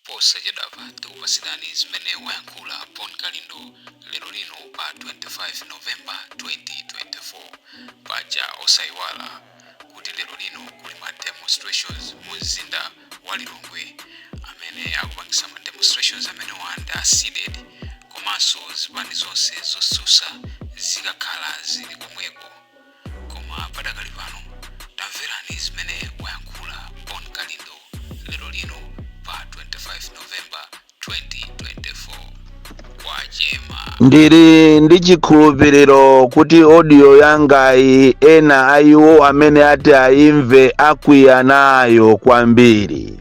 Posachedwapa tikupatsirani zimene wayankhula Bon Kalindo lero lino pa 25 November 2024. Paja osayiwala kuti lero lino kuli ma demonstrations mu mzinda wa Lilongwe. Amene akupangisa ma demonstrations amenewa ndi a Cdedi komanso zipani zonse zotsutsa zikakhala zili komweko. koma padakali pano tamverani zimene wayankhula bon kalindo lero lino pa 25 novemba 2024 kwacha ndili ndi chikhulupiriro kuti audio yangayi ena a iwo amene ati aimve akwiya nayo kwambiri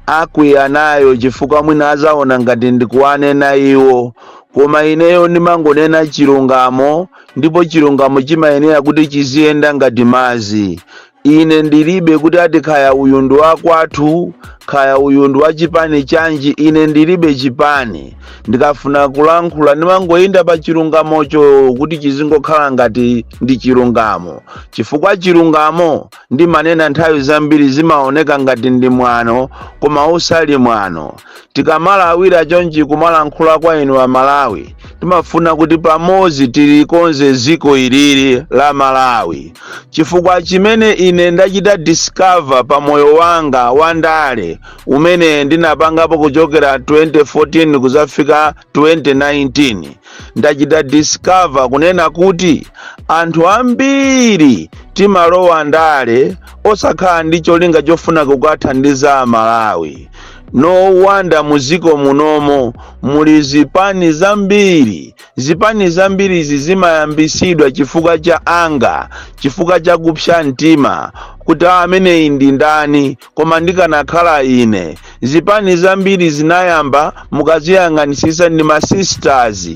akwiya nayo chifukwa mwina adzaona ngati ndikuwanena iwo koma ineyo ndimangonena chilungamo ndipo chilungamo chimayenera kuti chiziyenda ngati madzi ine ndilibe kuti ati kaya uyu ndi wakwathu kaya uyu ndi wachipani chanji ine ndilibe chipani ndikafuna kulankhula ndimangoyenda pa chilungamocho kuti chizingokhala ngati ndi chilungamo chifukwa chilungamo ndimanena nthawi zambiri chimaoneka ngati ndi mwano koma usali mwano tikamalawira chonchi kumalankhula kwa inu a malawi timafuna kuti pamodzi tilikonze dziko ilili la malawi chifukwa chimene ine ndachita discover pa moyo wanga wa ndale umene ndinapangapo kuchokera 2014 kudzafika 2019 ndachita discover kunena kuti anthu ambiri timalowa ndale osakhala ndi cholinga chofuna kukathandiza amalawi no wonder mudziko munomo muli zipani zambiri zipani zambiri izi zimayambitsidwa chifukwa cha anger chifukwa cha kupsa mtima kuti "Ah, ameneyi ndi ndani koma ndikanakhala ine zipani zambiri zinayamba mukaziyang'anitsitsa ndi masisters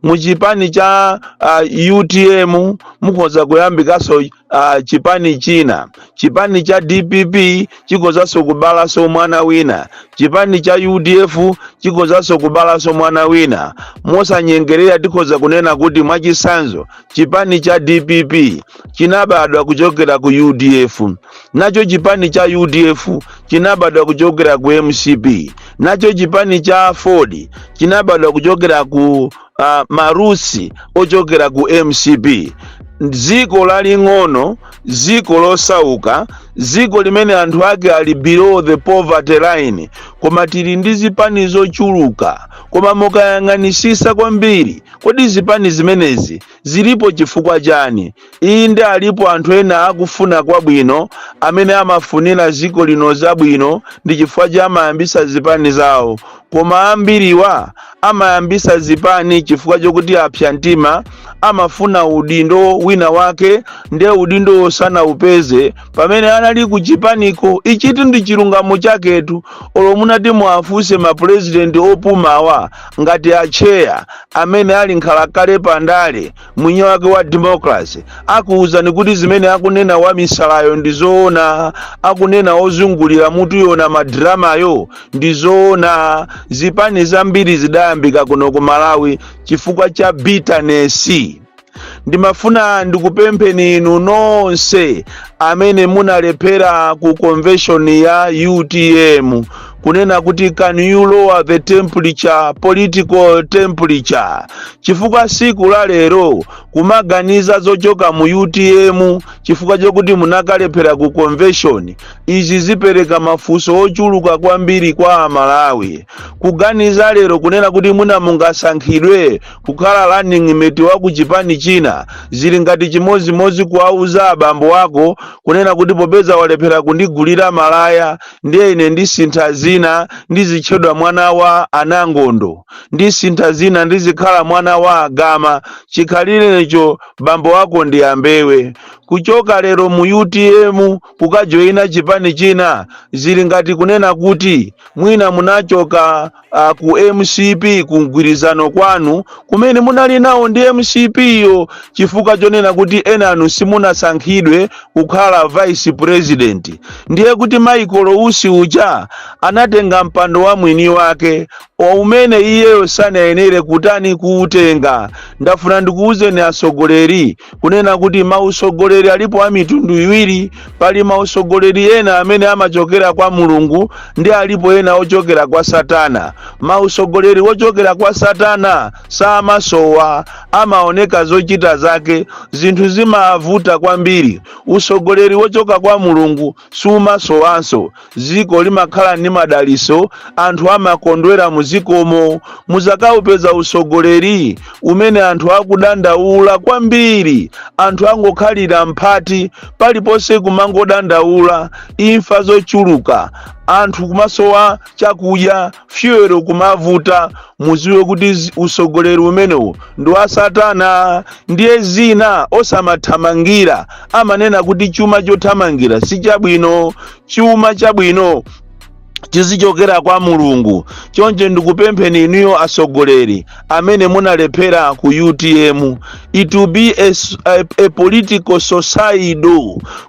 muchipani cha uh, utm mukhoza kuyambikanso uh, chipani china chipani cha dpp chikhozanso kubalanso mwana wina chipani cha udf chikhozanso kubalanso mwana wina mosanyengerera tikhoza kunena kuti mwachitsanzo chipani cha dpp chinabadwa kuchokera ku udf nacho chipani cha udf chinabadwa kuchokera ku mcp nacho chipani cha aford chinabadwa kuchokera ku uh, marusi ochokera ku mcp dziko laling'ono dziko losauka dziko limene anthu ake ali below the poverty line koma tili ndi zipani zochuluka koma mukayang'anitsitsa kwambiri kodi zipani zimenezi zilipo chifukwa chani Inde, alipo anthu ena akufuna kwabwino amene amafunira dziko lino zabwino ndi chifukwa chake amayambitsa zipani zawo, koma ambiriwa amayambitsa zipani chifukwa chokuti apsa mtima, amafuna udindo wina wake nde udindowo sanaupeze pamene anali ku chipaniko. Ichitu ndi chilungamo chaketu, olo munati muwafunse ma pulezidenti opumawa ngati Atcheya amene ali nkhalakale pa ndale, mwini wake wa democracy akuwuzani kuti zimene akunena wamisalayo ndi zoona akunena ozungulira mutuyo na madramayo ndi zoona zipani zambiri zidayambika kuno ku malawi chifukwa cha bitterness ndimafuna ndikupempheni inu nonse amene munalephera ku convention ya utm kunena kuti can you lower the temperature political temperature chifukwa siku la lero kumaganiza zochoka mu utm chifukwa chokuti munakalephera ku convention izi zipereka mafunso ochuluka kwambiri kwa amalawi kuganiza lero kunena kuti mwina mungasankhidwe kukhala running mate wa ku chipani china zili ngati chimodzimodzi kuwauza abambo ako kunena kuti popeza walephera kundigulira malaya ndiye ine ndisintha dzina ndizitchedwa mwana wa anangondo ndisintha dzina ndizikhala mwana wa agama chikhalirecho bambo wako ndi ambewe kuchoka lero mu utm kukajoyina chipani china zili ngati kunena kuti mwina munachoka ku mcp ku mgwirizano kwanu kumene munali nawo ndi mcp yo chifukwa chonena kuti enanu simunasankhidwe kukhala vice president ndiye kuti michael usi uja anatenga mpando wa mwini wake umene iyeyo sanayenere kutani kuutenga ndafuna ndikuwuzeni atsogoleri kunena kuti mautsogoleri alipo a mitundu iwiri pali mautsogoleri ena amene amachokera kwa mulungu ndi alipo ena ochokera kwa satana mautsogoleri ochokera kwa satana samasowa amaoneka zochita zake zinthu zimavuta kwambiri utsogoleri wochoka kwa mulungu sumasowanso. Dziko limakhala ndi madalitso, anthu amakondwera mu dzikomo. Mudzakaupeza utsogoleri umene anthu akudandaula kwambiri, anthu angokhalira mphati, paliponse kumangodandaula, imfa zochuluka, anthu kumasowa chakudya, fyuwero kumavuta muziwe kuti usogoleri umenewu ndi wa satana ndiye zina osamathamangira amanena kuti chuma chothamangira si chabwino chuma chabwino chizichokera kwa mulungu choncho ndikupempheni inuyo asogoleri amene munalephera ku utm it will be a political suicide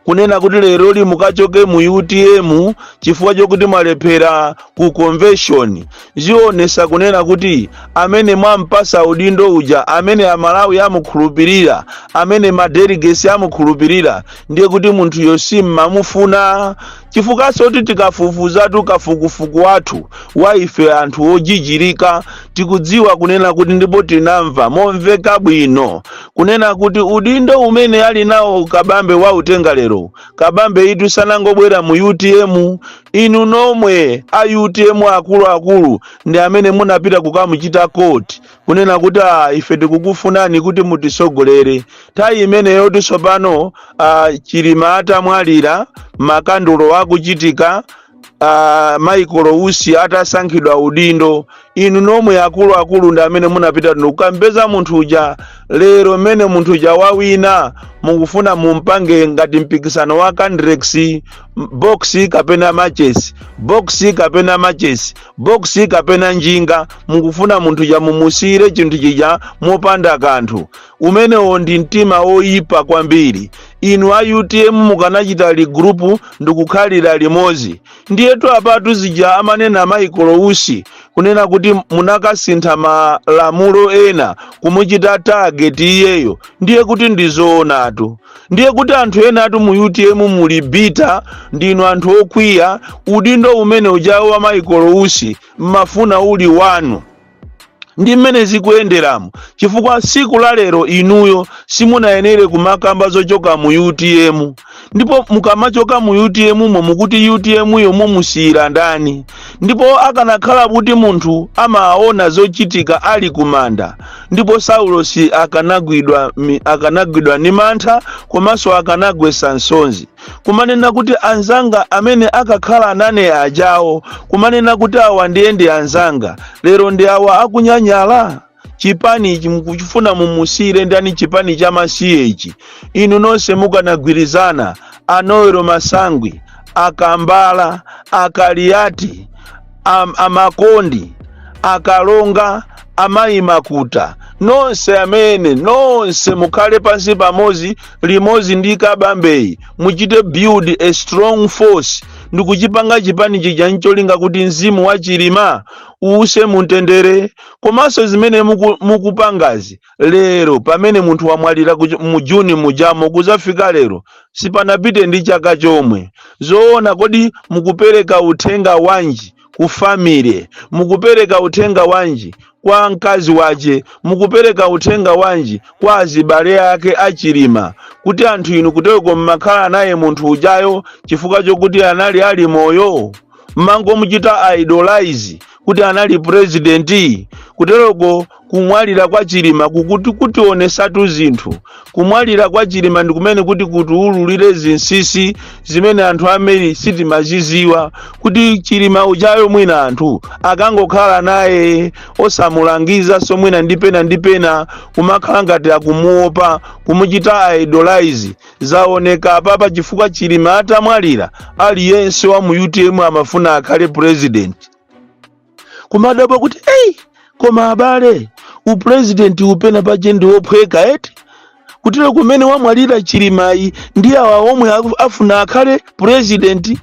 kunena kuti leroli mukachoke mu utm chifukwa chokuti mwalephera ku convention zionesa kunena kuti amene mwampasa udindo uja amene amalawi amukhulupirira amene madelegates amukhulupirira ndiye kuti munthuyo simmamufuna chifukwanso kuti tikafufuzatu kafukufuku wathu wa ife anthu ojijirika tikudziwa kunena kuti ndipo tinamva momveka bwino kunena kuti udindo umene ali nawo kabambe wautenga lero kabambeyitu sanangobwera mu utm Inu nomwe a utm akulu akulu ndi amene munapita kukamuchita court kunena kuti aah ife tikukufunani kuti mutisogolere. Nthawi imeneyotu tsopano aah Chilima atamwalira, makandulo akuchitika, aah Michael Usi atasankhidwa udindo inu nomwe akuluakulu ndi amene munapita ndi kukampeza munthu uja lero mmene munthu uja wawina mukufuna mumpange ngati mpikisano wa candrex box kapena machesi box kapena machesi box kapena njinga mukufuna munthu uja mumusiyire chinthu chija mopanda kanthu umenewo ndi mtima woyipa kwambiri inu a utm mukanachita regroup ndikukhalira limodzi Ndiyetu apatu zija amanena Michael Usi kunena kuti munakasintha malamulo ena kumuchita target iyeyo ndiye kuti ndizoonatu ndiye kuti anthu enatu mu utm muli bitter ndinu anthu okwiya udindo umene ujawo wa Michael Usi mmafuna uli wanu ndi mmene zikuyenderamo chifukwa siku la lero inuyo simunayenere kumakamba zochoka mu utm ndipo mukamachoka mu utm mo mukuti utm yo mumusiyira ndani ndipo akanakhala kuti munthu amaona zochitika ali kumanda ndipo saulosi akanagwidwa ndi mantha komanso akanagwesa nsonzi kumanena kuti anzanga amene akakhala nane ajawo kumanena kuti awa ndiye ndi anzanga lero ndi awa akunyanyala chipani ichi mukufuna mumusiyire ndani chipani cha masiye ichi inu nonse mukanagwirizana a noel masangwi akambala akaliyati am, amakondi akalonga amayi makuta nonse amene nonse mukhale pansi pamodzi limodzi ndi kabambeyi muchite build a strong force ndikuchipanga chipani chija ncholinga kuti mzimu wa chilima uuse mumtendere komanso zimene muku- mukupangazi lero pamene munthu wamwalira kuch- mu juni mujamo kuzafika lero sipanapite ndi chaka chomwe zoona kodi mukupereka uthenga wanji ku family mukupereka uthenga wanji kwa mkazi wache mukupereka uthenga wanji kwa azibale ake achilima kuti anthu inu kuteko mmakhala naye munthu ujayo chifukwa chokuti anali ali moyo mmangomuchita idolize kuti anali purezidenti kuteroko kumwalira kwa chilima kukuti kutionesatu zinthu kumwalira kwa chilima ndi kumene kuti kutiululire zinsisi zimene anthu ambiri sitimaziziwa kuti chilima ujayo mwina anthu akangokhala naye osamulangiza so mwina ndi pena ndi pena kumakhala ngati akumuopa kumuchita idolize Zaoneka apapa chifukwa Chilima atamwalira aliyense wa mu UTM amafuna akhale president. Kumadabwa kuti ei koma abale u president upena paje ndi wophweka eti kutero kumene wamwalira Chilimayi ndi awa omwe aku- afuna akhale president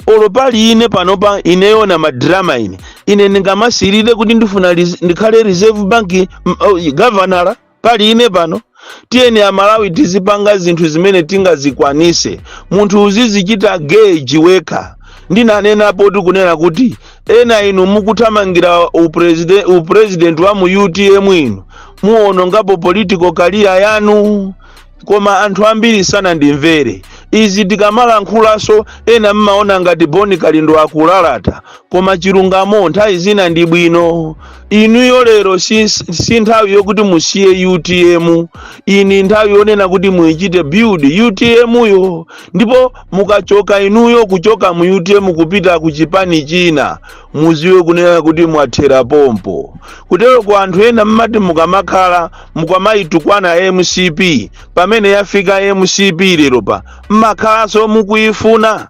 olo pali ine panopa ine wonama drama ine ine ndingamasirire kuti ndifuna ris- ndikhale reserve bank mm, oh, governor pali ine pano tiyeni amalawi tizipanga zinthu zimene tingazikwanise munthu uzizichita gauge wekha ndinanenapotu kunena kuti ena inu mukuthamangira upreside- upresident wa mu utm inu muwonongapo political career yanu koma anthu ambiri sanandimvere izi tikamalankhulanso ena mmaona ngati boni kalindo akulalata koma chilungamo nthawi zina ndi bwino inuyo lero si, si nthawi yokuti musiye utm iyi nthawi yonena kuti muichite build utm yo ndipo mukachoka inuyo kuchoka mu utm kupita ku chipani china muziwe kunena kuti mwathera pompo kuteroko anthu ena mmati mukamakhala mukamayitukwana mcp pamene yafika mcp lero pa mmakhalanso mukuyifuna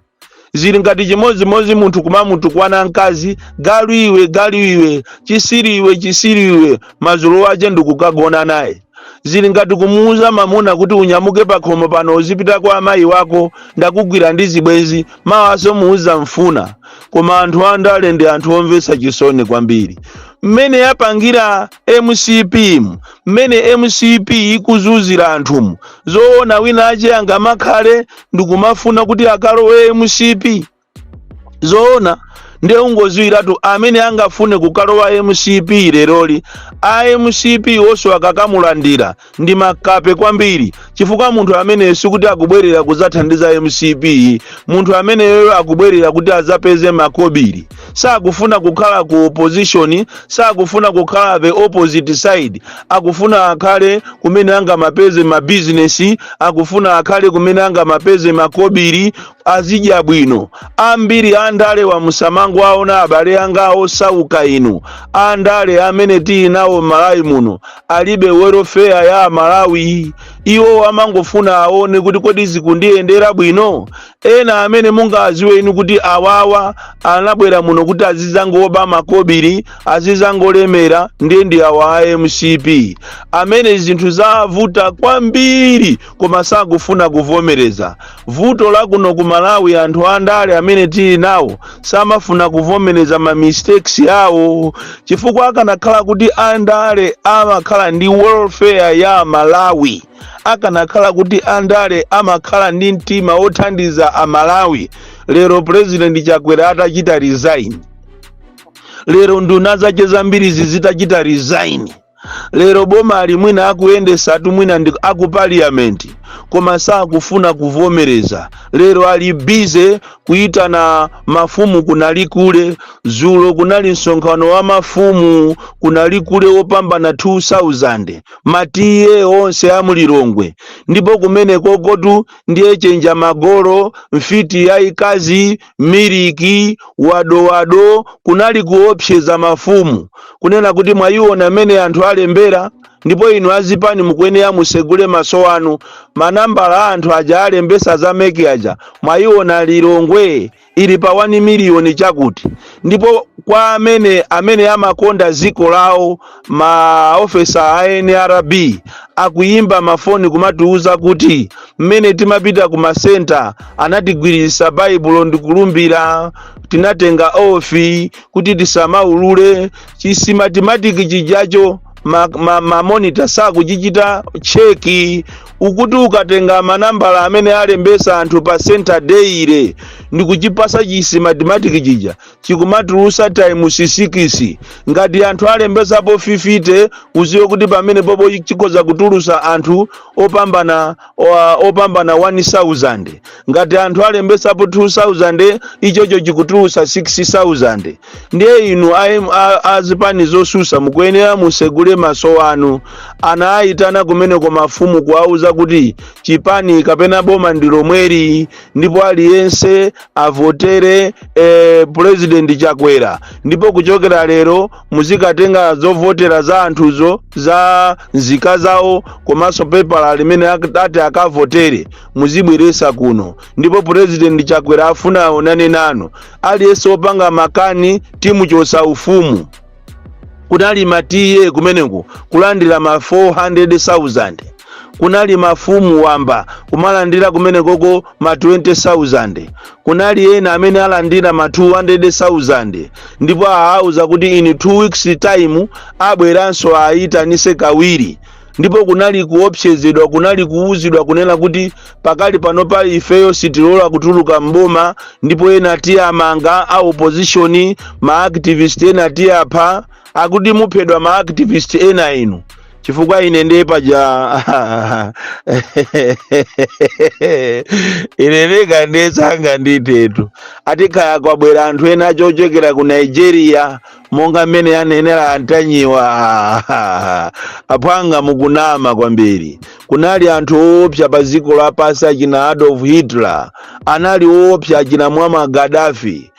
zili ngati chimodzimodzi munthu kumamutukwana mkazi galu iwe galu iwe chisiri iwe chisiri iwe madzulo wache ndikukagona naye zili ngati kumuuza mamuna kuti unyamuke pakhomo pano uzipita kwa amayi wako ndakugwira ndi zibwenzi mawaso muuza mfuna koma anthu andale ndi anthu omvetsa chisoni kwambiri mmene yapangira mcp mu mmene mcp ikuzuzira anthumu zoona wina wache angamakhale ndikumafuna kuti akalowe mcp zoona ndiye ungoziwiratu amene angafune kukalowa mcp leroli a mcp wonso akakamulandira ndi makape kwambiri chifukwa munthu ameneyo sikuti akubwerera kuzathandiza mcp munthu ameneyoyo akubwerera kuti azapeze makobiri sakufuna kukhala ku opposition sakufuna kukhala the opposite side akufuna akhale kumene angamapeze mabizinesi akufuna akhale kumene angamapeze makobiri azidya bwino ambiri andale wa musamangowaona abale anga osauka inu andale amene tili nawo m'malawi muno alibe welofeya ya amalawi iwo amangofuna aone kuti kodi zikundiyendera bwino ena amene mungaziwe inu kuti awawa anabwera muno kuti azizangoba makobiri azizangolemera ndi awa a mcp amene zinthu zavuta kwambiri koma sakufuna kuvomereza. Vuto la kuno ku Malawi anthu andale amene tili nawo samafuna kuvomereza ma mistakes awo chifukwa akanakhala kuti andale amakhala ndi welfare ya amalawi akanakhala kuti andale amakhala ndi mtima wothandiza amalawi lero president chakwera atachita resign lero nduna zake zambirizi zitachita resign lero boma ali mwina akuyendesatu mwina ndi aku parliament koma sakufuna kuvomereza lero ali bize kuyitana mafumu kunali kule zulo kunali msonkhano wa mafumu kunali kule wopambana 2000 matiye onse a mulilongwe ndipo kumene kokotu ndiye chenjamagolo mfiti yayikazi miliki, wadowado, kunali kuopseza mafumu kunena kuti mwayiona mmene anthu alembera ndipo inu azipani mukuyenera musegule maso anu manambala anthu aja alembesa za meki aja mwayiona lilongwe ili pa 1 miliyoni chakuti ndipo kwa amene amene amakonda dziko lawo ma officer a nrb akuyimba mafoni kumatiuza kuti mmene timapita ku masenta anatigwiritsa baibulo ndikulumbira tinatenga oath kuti tisamaulule chisimatimatiki chijacho ma monitor sakuchichita cheki ukuti ukatenga manambala amene alembesa anthu pa center dailey ndikuchipasa chisimatimatiki chija chikumatulusa times sikisi ngati anthu alembesapo 50 uziwe kuti pamene popo chikhoza kutulusa anthu opambana 1000 ngati anthu alembesapo 2000 ichocho chikutulusa 6000 ndiye inu azipani zosusa mukuyenera musegule maso anu anawayitana kumeneko mafumu kuwauza kuti chipani kapena boma ndi lomweli ndipo aliyense avotere eh, president chakwera ndipo kuchokera lero muzikatenga zovotera za anthuzo za nzika zawo komanso pepala limene ak- ati akavotere muzibweresa kuno ndipo president chakwera afuna aonane nanu aliyense opanga makani timuchosa ufumu kunali ma TA kumeneko kulandira ma 400,000 kunali mafumu wamba kumalandira kumenekoko ma 20,000 kunali ena amene alandira ma 200,000 ndipo awauza kuti in 2 weeks time abweranso ayitanise kawiri ndipo kunali kuopsezedwa kunali kuwuzidwa kunena kuti pakali pano pa ifeyo sitilola kutuluka mboma ndipo ena tiwamanga a opposition ma activist ena tiwapha akuti muphedwa ma activist ena inu chifukwa ine ndiye paja ine ndekandeyesa nga ndithetu ati kaya kwabwera anthu ena ochokera ku nigeria monga mmene ananenera antanyiwa aphwanga mukunama kwambiri kunali anthu oopsa pa dziko lapansi achina adolf hitler anali oopsa achina muammar gaddafi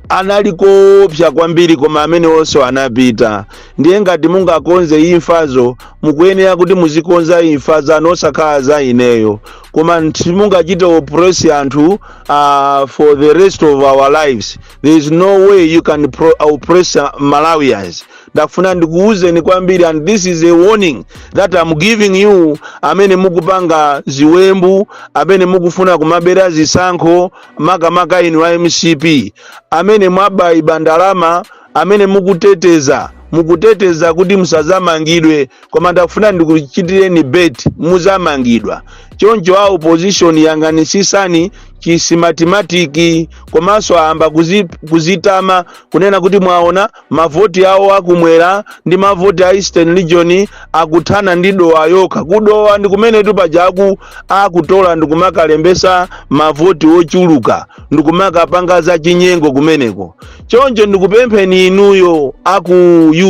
anali oopsa kwambiri koma amene onse anapita ndiye ngati mungakonze imfazo mukuyenera kuti muzikonza imfa zanu osakhala za ineyo koma simungachite oppress anthu uh, for the rest of our lives there is no way you can pro oppress uh, malawians ndafuna ndikuwuzeni kwambiri and this is a warning that i'm giving you amene mukupanga ziwembu amene mukufuna kumabera zisankho makamaka inu a mcp amene mwaba iba ndalama amene mukuteteza mukuteteza kuti musazamangidwe koma ndakufuna ndikuchitireni bet muzamangidwa choncho a opposition yang'anitsitsani chisimatimatiki komanso ayamba kuzi, kuzitama kunena kuti mwaona mavoti awo akumwera ndi mavoti a eastern region akuthana ndi dowa yokha kudowa ndi kumenetu pajaku akutola ndikumakalembesa mavoti ochuluka ndikumakapanga za chinyengo kumeneko choncho ndikupempheni inuyo aku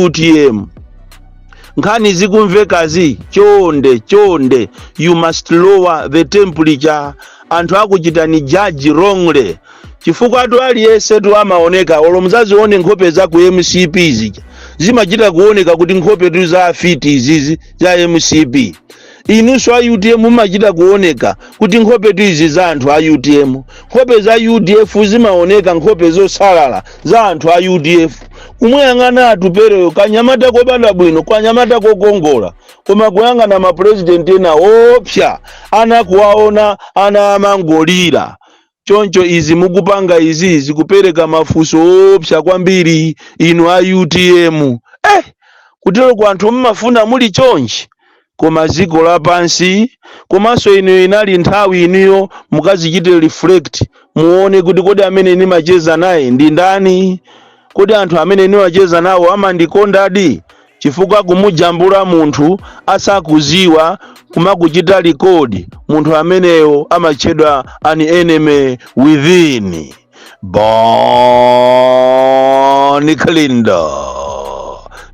utm nkhani zikumvekazi chonde chonde you must lower the temperature anthu akuchitani judge wrongly chifukwatu aliyensetu amaoneka olo mudzazione nkhope za ku mcp zija zimachita kuoneka kuti nkhopetu za afiti izizi za mcp Inunso a utm mumachita kuoneka kuti nkhopetu izi za anthu a utm. Nkhope za udf zimaoneka nkhope zosalala za anthu a udf. Kumuyang'ana Atupereyo kanyamata kobadwa bwino, kanyamata kokongola, koma kuyang'ana mapulezidenti ena oopsa, ana kuwaona ana amangolira. Choncho izi mukupanga izi zikupereka mafunso oopsa kwambiri inu a utm eh kuteroku anthu amafuna muli chonchi koma dziko lapansi komanso inu inali nthawi inuyo mukazichite reflect muone kuti kodi amene ndimacheza naye ndi ndani kodi anthu amene ndimacheza nawo amandikondadi chifukwa kumujambula munthu asakuziwa kumakuchita record munthu ameneyo amatchedwa an enemy within Bon Kalindo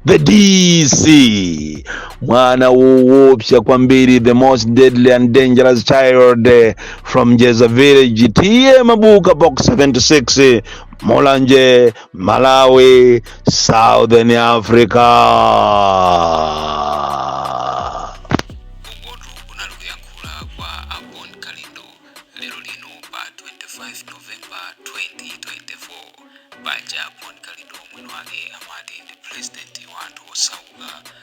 the DC mwana woopsa kwambiri the most deadly and dangerous child eh, from Jeza village T/A Mabuka box 76 Mulanje malawi southern africa ukotu kunali kuyankhula kwa a Bon Kalindo lero lino pa 25 novemba 2024 paja a Bon Kalindo mwini wake amati ndi pulezidenti wa anthu osauka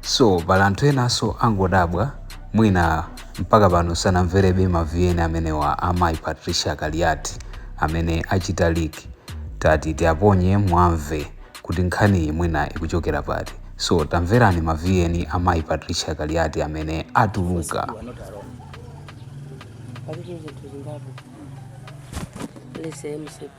so pali anthu enanso angodabwa mwina mpaka pano sanamverebe mavn amenewa amayi patricia kaliati amene achita leak tati tiaponye mwamve kuti nkhaniyi mwina ikuchokera pati so tamverani mavn amayi patricia kaliati amene atuluka Listen MCP.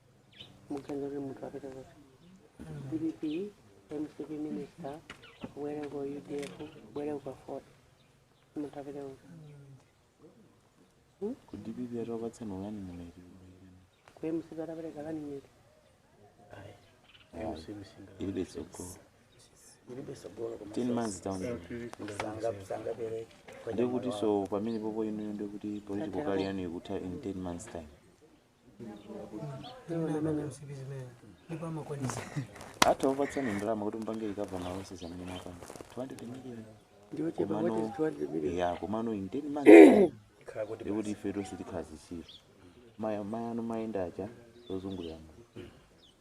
muganizire munthu apita ku dpp mcp minister kubwere ku udf kubwere ku aford munthu apita kuti ku dpp atopatsa mawani mulaiti ku mcp atapereka kani nyeti ilibe tsogolo ten months down the road. ndekuti so pamenepopo inuyo ndekuti political career yanu ikutha in ten months time ata akupatsani ndalama kuti mpange ikava malonse zimene mmapanga 200 million ndiochepa Komano- what is 200 million yeah komano in 10 months khala kuti ndekuti ife tonse tikhala zisiru mayano mayenda aja zozungulirana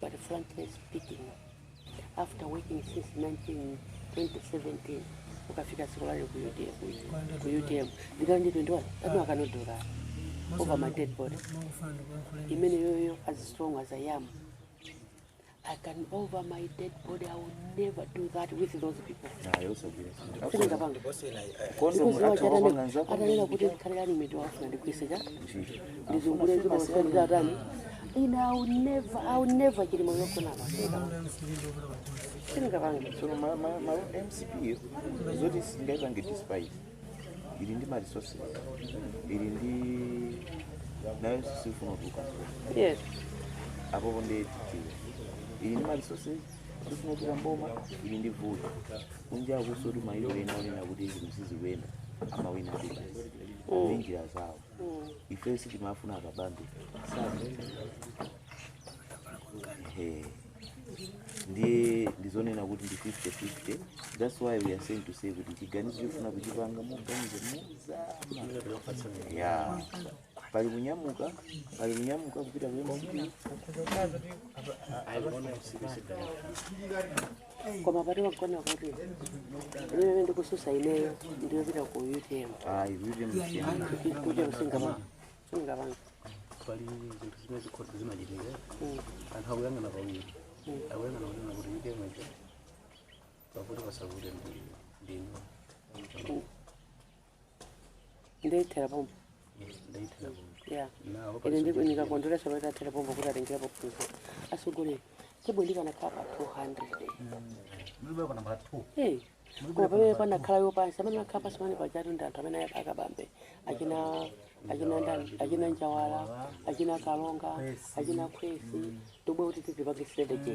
But frankly speaking, after working since 19, 2017, ukafika siku lale ku UTM, ku UTM, ndikala ndi 21, anu akanodora over my dead body. Imeneyoyo as strong as I am, I can over my dead body, I will never do that with those people. Sindingapanga. Because wachadane, atanena kuti ndikhalirani miti wafuna ndikuise cha ndizungulire zina zikuchita atani ine I'll never I'll never chilima ikanakhala singapange so ma, ma, ma mcp yo zoti singaipange despite ili ndi maresources ili nayo sifuna kutuluka yes apopo ndi titiyo ili ndi maresources sifuna kutuluka m'boma ili ndi vuto kunja kusonyeza kuti mayiko ena onena kuti zinthu sizikuyenda amawina ndi basi ndi njira zawo ife sitimawafuna akabambe Ehe. ndiye ndizonena kuti ndi 50-50 thats why we are saying to say kuti chiganizo chofuna kuchipanga muganize mozama ya pali kunyamuka pali kunyamuka kupita ku mcp koma pakuti mwaona kuti mmene ndikutsutsa ineyo ndiyopita ku utm ayi kuti kusiyana kuti singa singapange pali zinthu zimene zikhoza zimachitika anthu akuyang'ana pawiri akuyang'ana kunena kuti utm icho pakuti pasavute ndi ndinu nde ithera pompo ndaithera pompo ya nawo ine ndi- ndikakondwera sabata tathera pompo kuti atengera pofunsa atsogolere tebwe ndikanakhala pa 200 mlibe kana pa 2 Eh, koma pamene panakhala yopansi amene akhala pansi pamene pajatu ndi anthu amene akabambe achina achina ndani achina njawala achina kalonga achina kwesi tobwe kuti tizipange strategy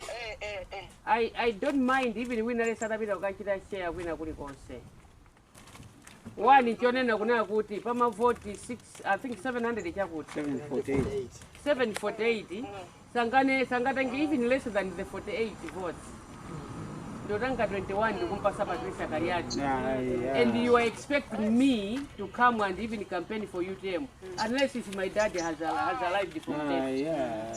eh eh eh I, I don't mind even wina lesi atapita kukachita share kwina kulikonse wani chonena kunena kuti pamavoti 6 i think 700 chakuti 748 748 sangane sangatenge even less than the 48 votes ndotanga 21 ndikumpasa patricia kaliati Yeah, yeah. and you are expecting me to come and even campaign for utm unless if my dad has, has arrived from Ah, death yeah.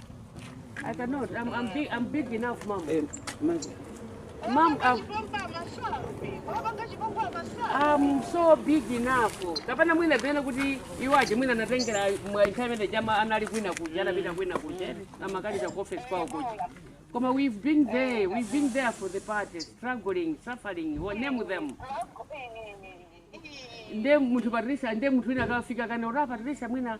I cannot. I'm, I'm, big, I'm big enough, mom. Eh, mom, I'm, I'm so big enough. Kapena mwina bena kuti iwo aja mwina natengera mwa internet jama anali kwina kuja anapita kwina kuja amakali za office kwao kuja. Koma we've been there. We've been there for the party, struggling, suffering. We name them. nde munthu patricia nde munthu wina akafika kana ora patricia mwina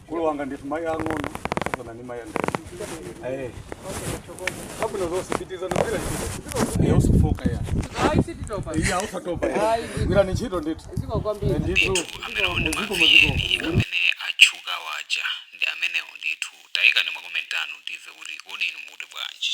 Mkulu wanga ndithu mayi ang'ono kusiyana ndi mayi andani. Eh, kabwino zonse pitirizani gwira ntchito. Eh, musafooke ya. Ayi sititopa. Iya musatope. Ayi. Gwirani ntchito ndithu. Zikomo kwambiri. Ndithu. Ndithu zikomo. amene atchuka waja ndi amenewo ndithu tayikani makomenti anu timve kuti kodi inu muti bwanji